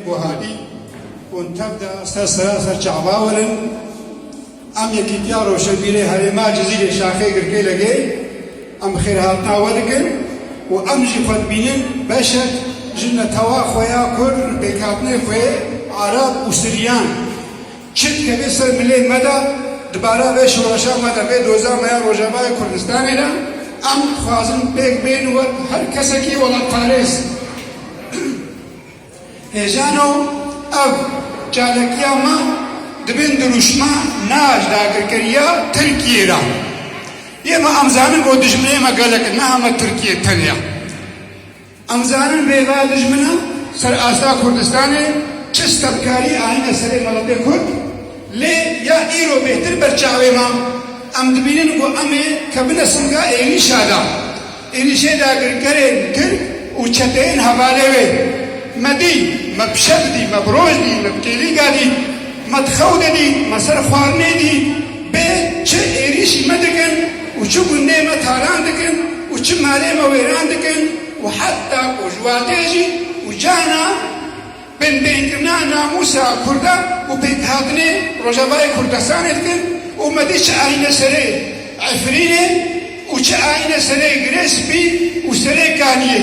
Guhadî û tev de ser sera ser çawa werin em Yekîtiya Rojhilbîrê Herêma Cizîrê Şaxê Girkê Legey em bi xêrhatina we dikin û em jî xwe dibînin beşek ji netewa xwe ya Kurd li pêkhatinê xwe yê Arab û Siryan. Çi dikeve ser milê me de di bara vê şoreşa me de vê doza me ya Rojavayê Kurdistanê de em dixwazin pêk bên û wek her kesekî welatparêz, Hêjano ev çalakiya me di bin dirûşma Naj dagirkeriya Tirkiyê de ye me em zanin ku dijminê me gelek e niha me Tirkiye tenya. Em zanin rêveya dijmina ser asta Kurdistanê çi stevkarî anîne serê miletê Kurd lê ya îro bêhtir ber çavê me em dibînin ku em ê kevine singa êrîşa de. Êrîşê dagirkerên tirk û çeteyên hevalê wê me dî, me bi şev dî, me bi roj dî, me bi kêlîga dî, me di xew de dî, me ser xwarinê dî, bê çi êrîşî me dikin û çi gundê me talan dikin û çi malê me wêran dikin û heta ku ji watê jî û cana Binbêhkirina namûsa kurdan û pêkhatinê Rojavayê Kurdistanê dikin û me dît çi ayîne serê Efrînê û çi ayîne serê Girê Spî û serê Kaniyê.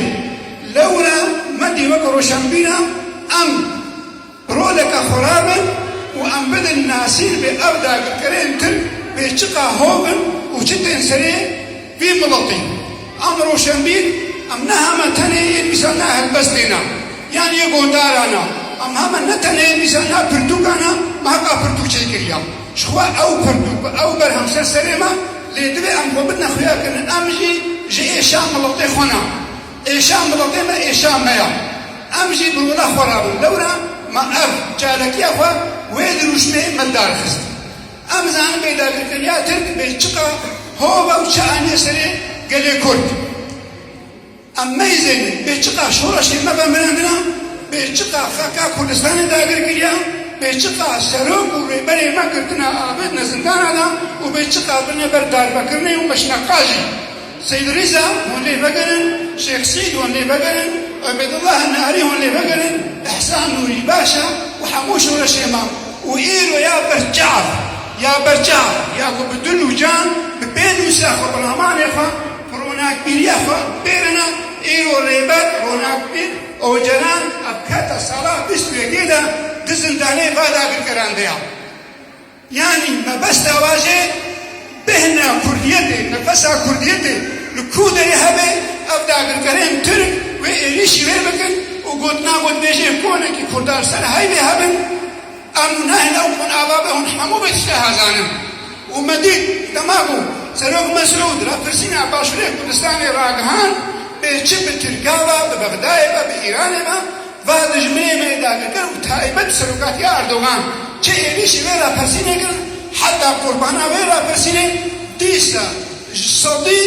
Lewra me dî wek roşenbîna em bi roleke xwe re bin û em bidin nasîn vê ew dagirkerên Tirk bê çiqa hov in û çi tên serê Vî miletî a mi roşenbîr em ne heme tenê yê mîsa na helbestê na yan yê gondara na em heme ne tenê yê mîsa na pirtûka na mi heqa pirtûk çê kiriya ji xwe ew pirtûk bi ew berhem ser serê me lê divê em xwe bidine xuyakirin em jî ji êşa miletê xwe na êşa miletê me êşa me ya em jî bi wila xwe rabin lewra me ev çalakiya xwe wê dirûşmê me darxist. Em dizanin bê dagirkeriya Tirk bê çiqa hova û çi anîye serê gelê Kurd. Em neyzêne bê çiqa şoreşê me ve mirandina, bê çiqa xaka Kurdistanê dagir kiriya, bê çiqa serok û rêberê me girtina abêdine zindana de û bê çiqa birine ber darbekirinê û meşina qajê. Seyd Rîza hûn lê vegerin, Şêx Seyd hûn lê vegerin, Ubeydullah Nari hûn lê vegerin, Îhsan Nurî Başa û hemû şoreşê me û îro ya ber çav, ya ber çav, ya ku bi dil û can, bi pênûsa xwe, bi ramanê xwe, bi ronakbîriya xwe bêrine, îro Rêber, Ronakbîr, Ocalan Ebketa sala bîst û yekê de di zindanê va dagirkeran de ya. Yanî mebesta wajê bêhna kurdiyetê, nefesa kurdiyetê li ku derê hebe, ev dagirkerên tirk wê êrîşî wê bikin û gotina gotbêjên konekî kurda li ser heybê hebin, em û neh ew hûn ava be hûn hemû bi tişta hazanin. Û me dît dema ku Serok Mesûd rapirsîna Başûrê Kurdistanê ragihand bê çi bi Tirka be, bi Bexdayê be, bi Îranê be, Va dijminê mêdagirker û taybet serokatiya Erdogan çi êrîşî vê rapirsînê kirin, heta qurbana vê rapirsînê dîsa ji sedî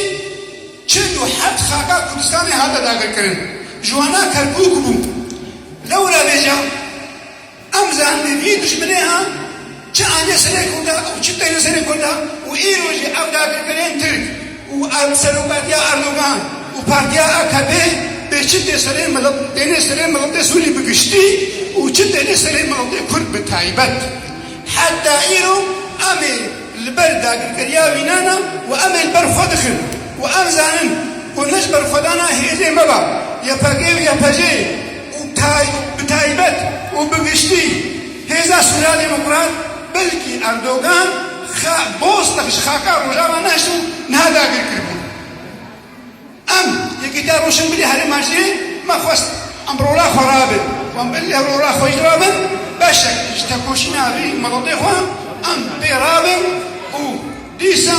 çil û heft xaka Kurdistanê hate dagirkirin ji wana Kerkûk bû. Lewra vêcan. Ev zehmê vî dijminê ha çi ane serê Kurda û çi têne serê Kurda û îro jî ev dagirkerên Tirk û serokatiya Erdogan û partiya akp bê çi tê serê milet têne serê miletê Sûrî bi giştî û çi têne serê miletê Kurd bi taybet. Heta îro em ê li ber dagirkeriya wî nane û em ê li ber xwe dixin û em zanin ku ne ji ber xwedana hêzê me be, YPG û YPJ'ê, û bi taybet û bi giştî hêza Sûrya Demokrat belkî Erdogan Bostak ji xaka Rojava nehişt û niha dagir kiribûn. Em Yekîtiya Rûşinbirî Herêma jê me xwest em rola xwe rabin û em belkî ev rola xwe jî rabin beşek ji tekoşîna vî miletê xwe em pê rabin û Dîsa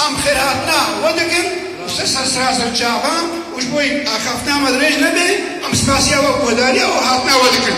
em xêrhatina we dikin û ser serseraser çavan û ji bo wê ku axaftina me dirêj nebe em spasiya we û guhdarîya û hatina we dikin.